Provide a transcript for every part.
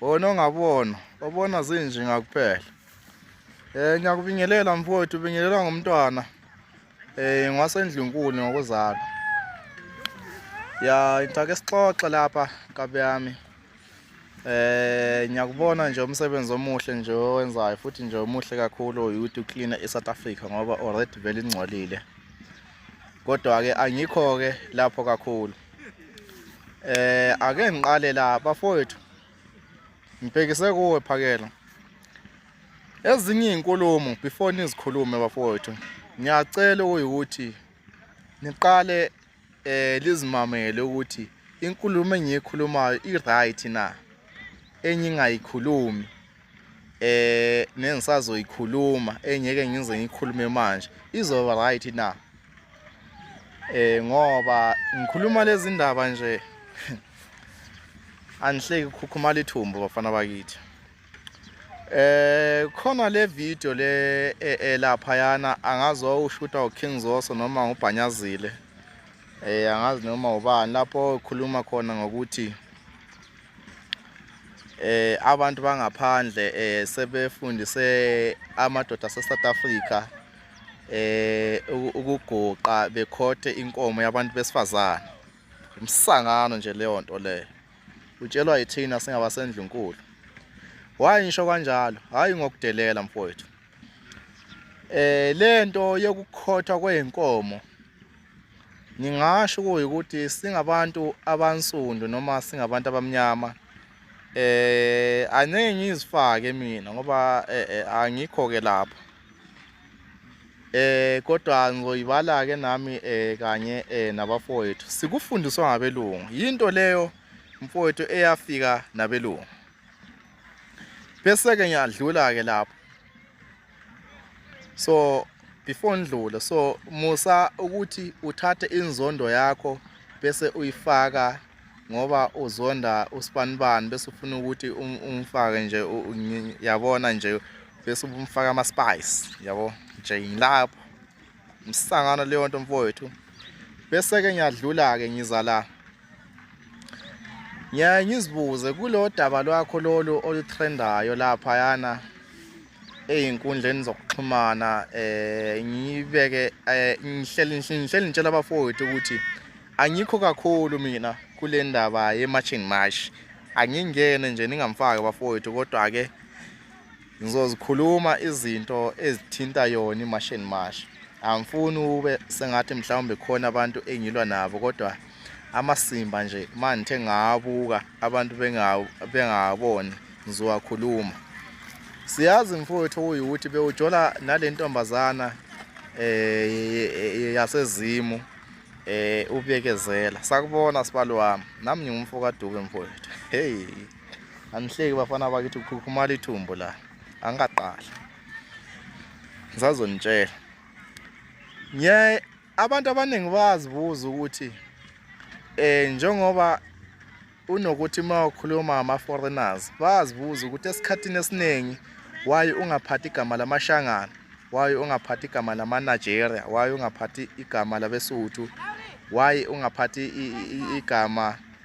wona ongabona obona zinjinga kuphela um ngiyakubingelela mfowethu ubingelelwa ngumntwana um ngwasendlunkulu ngokuzalwa ya ngithake sixoxe lapha kabi yami um ngiyakubona nje umsebenzi omuhle nje owenzayo futhi nje omuhle kakhulu ukuthi ucleana i-south africa ngoba already vele ingcolile kodwa-ke angikho-ke lapho kakhulu Eh ake ngiqale la bafowethu. Ngibhekise kuwe phakela. Ezinye izinkulumo before nizikhulume bafowethu. Ngiyacela ukuthi niqale eh lizimamele ukuthi inkulumo engiyikhulumayo i right na enye ingayikhulumi eh nengisazoyikhuluma engeke ngize ngikhulume manje izoba right na eh ngoba ngikhuluma lezi ndaba nje anihleki khukhumala ithumbu bafana bakithi eh khona le video le e, e, lapha yana angazi wawushuta uKing Zoso noma ngubhanyazile eh angazi noma ubani lapho ukhuluma khona ngokuthi eh abantu bangaphandle eh sebefundise amadoda ase South Africa eh ukuguqa bekhothe inkomo yabantu besifazana umsangano nje leyo nto leyo utshelwa yithina singabasendlunkulu why ngisho kanjalo hayi ngokudelela mfowethu eh lento yokukhothwa kweinkomo ngingasho ukuthi singabantu abansundu noma singabantu abamnyama eh angeke ngizifake mina ngoba eh, eh, angikho ke lapho eh kodwa ngizoyibala ke nami eh kanye eh nabafowethu sikufundiswa ngabelungu into leyo mfowethu eyafika nabelungu bese-ke ngiyadlula-ke lapho so before ndlule so musa ukuthi uthathe inzondo yakho bese uyifaka ngoba uzonda usibanibani bese ufuna ukuthi um, umfake nje yabona nje bese umfaka ama-spice yabo nje ngilapho msangano leyo nto mfowethu bese-ke ngiyadlula-ke ngiza la ngiyaye ngizibuze kulo daba lwakho lolu olutrendayo laphayana ey'nkundleni zokuxhumana um ngibeke um ngihleli ngitshela abafowethu ukuthi angikho kakhulu mina kule ndaba ye-marching march angingene nje ningamfaki abafowethu kodwa-ke Ngizozikhuluma izinto ezithinta yona imash and mash. Angifuni ube sengathi mhlawumbe khona abantu engilwa nabo kodwa amasimba nje manje ngabuka abantu bengaboni ngizowakhuluma siyazi mfowethu uyuthi bewujola nalentombazana eh yasezimu eh ubekezela sakubona sibalo wami nami ngingumfo kaDube mfowethu hey angihleki bafana bakithi ukhukhumala ithumbu la angaqala ngizazonitshela ngiye abantu abaningi bazibuza ukuthi eh njengoba unokuthi uma ukhuluma ama foreigners bazibuza ukuthi esikhathini esiningi why ungaphathi igama lamashangana why ungaphathi igama lama Nigeria why ungaphathi igama labesuthu why ungaphathi igama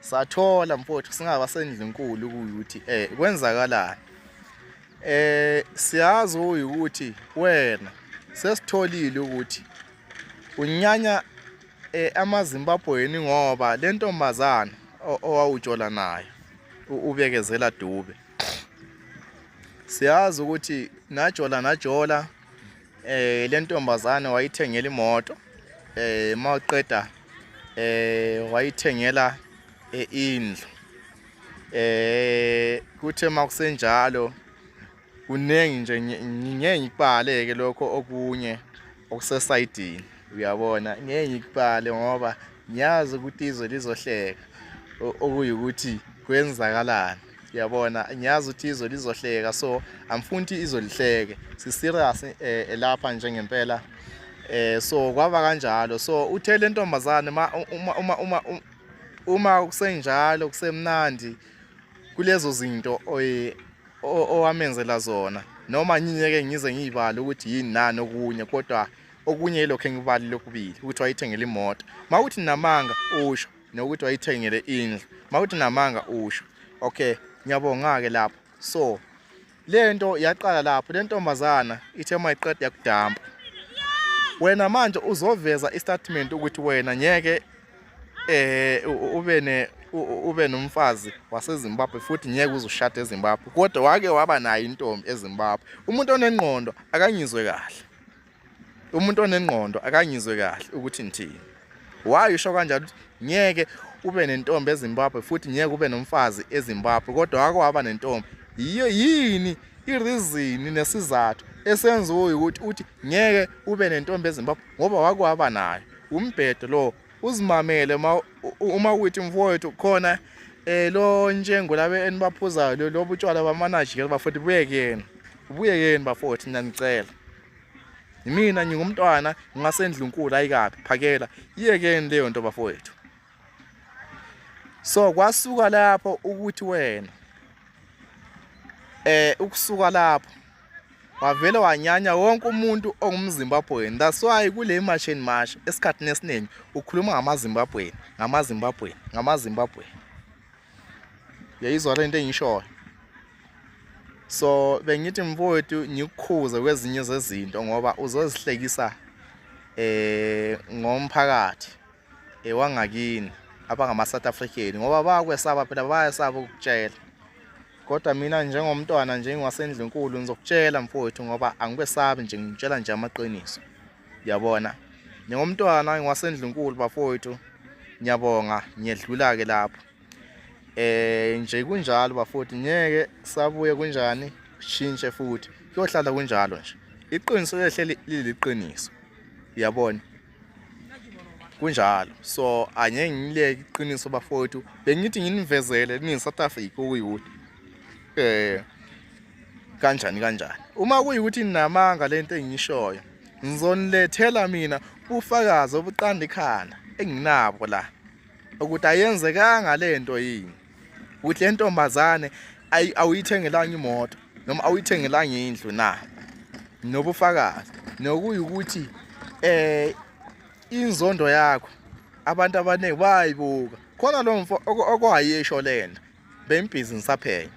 sathola mfowethu singaba sendlunkulu ukuthi eh kwenzakalani eh siyazi ukuthi wena sesitholile ukuthi unyanya eh amazimbabweni ngoba lentombazana owawujola nayo ubekezela dube siyazi ukuthi najola najola Eh le ntombazane wayithengela imoto eh mawuqeda eh wayithengela eh, indlu eh kuthe makusenjalo kuningi nje ngeke ngikubaleke lokho okunye okusesayidini uyabona ngeke ngikubale ngoba ngiyazi ukuthi izwe lizohleka okuyukuthi kwenzakalani yabona ngiyazi ukuthi izwe lizohleka so angifuni ukuthi izwe lihleke siserious eh, elapha nje ngempela eh so kwaba kanjalo so uthe le ntombazane uma uma uma uma kusenjalo kusemnandi kulezo zinto owamenzela zona noma nginyeke ngize ngiyibala ukuthi yini nani okunye kodwa okunye lokho engibali lokubili ukuthi wayithengele imoto mawuthi namanga usho nokuthi wayithengele indlu makuthi namanga usho okay ngiyabonga-ke lapho so le nto yaqala lapho le ntombazana ithe uma iqeda yakudampa wena manje uzoveza istatement ukuthi wena ngeke eh ube ne ube nomfazi waseZimbabwe futhi ngeke uzushada eZimbabwe kodwa wake waba nayo intombi eZimbabwe umuntu onengqondo akangizwe kahle umuntu onengqondo akangizwe kahle ukuthi ngithini why usho kanjalo ngeke ube nentombi eZimbabwe futhi ngeke ube nomfazi eZimbabwe kodwa wake waba nentombi yiyo yini irizini nesizathu esenza ukuthi uthi ngeke ube nentombi eZimbabwe ngoba wake waba nayo umbhedo lo uzimamele uma uthi mfowethu khona eh lo njengo labe enibaphuzayo lobu tshwala bamanajikela bafowethu buyekeni buyekeni bafowethu ngiyanicela Yimina ngingumntwana ngingasendlunkulu ayikabi phakela iyekeni leyo nto bafowethu. So kwasuka lapho ukuthi wena eh ukusuka lapho wavele wanyanya wonke umuntu ongumZimbabwean that's why kule march and march esikhathini esiningi ukhuluma ngamaZimbabwean ngamaZimbabwean ngamaZimbabwean yayizwa lento engishoyo so bengithi mfowethu ngikukhuze kwezinye zezinto ngoba uzozihlekisa eh ngomphakathi ewangakini eh, abangama South African ngoba bakwesaba phela bayasaba ukutshela kodwa mina njengomntwana njengowasendilenkulu ngizokutshela mfowethu ngoba angikwesabi nje ngitshela nje amaqiniso yabona njengomntwana ngiwasendlunkulu bafowethu ngiyabonga ngiyedlula ke lapho eh nje kunjalo bafowethu ngeke sabuye kunjani shintshe futhi kuyohlala kunjalo nje iqiniso lehleli liliqiniso uyabona kunjalo so angeke ngileke iqiniso bafowethu bengithi nginivezele ni South Africa ukuyuthi eh kanjani kanjani uma kuyikuthi ninamanga lento engiyishoyo ngizonilethela mina ufakazi obuqanda ikhanda enginabo la ukuthi ayenzekanga lento yini ukuthi le ntombazane awuyithengelanga imoto noma awuyithengelanga indlu na nobufakazi nokuyukuthi eh inzondo yakho abantu abaningi bayibuka khona lo mfo okwayesho lena bembhizi ngisaphenya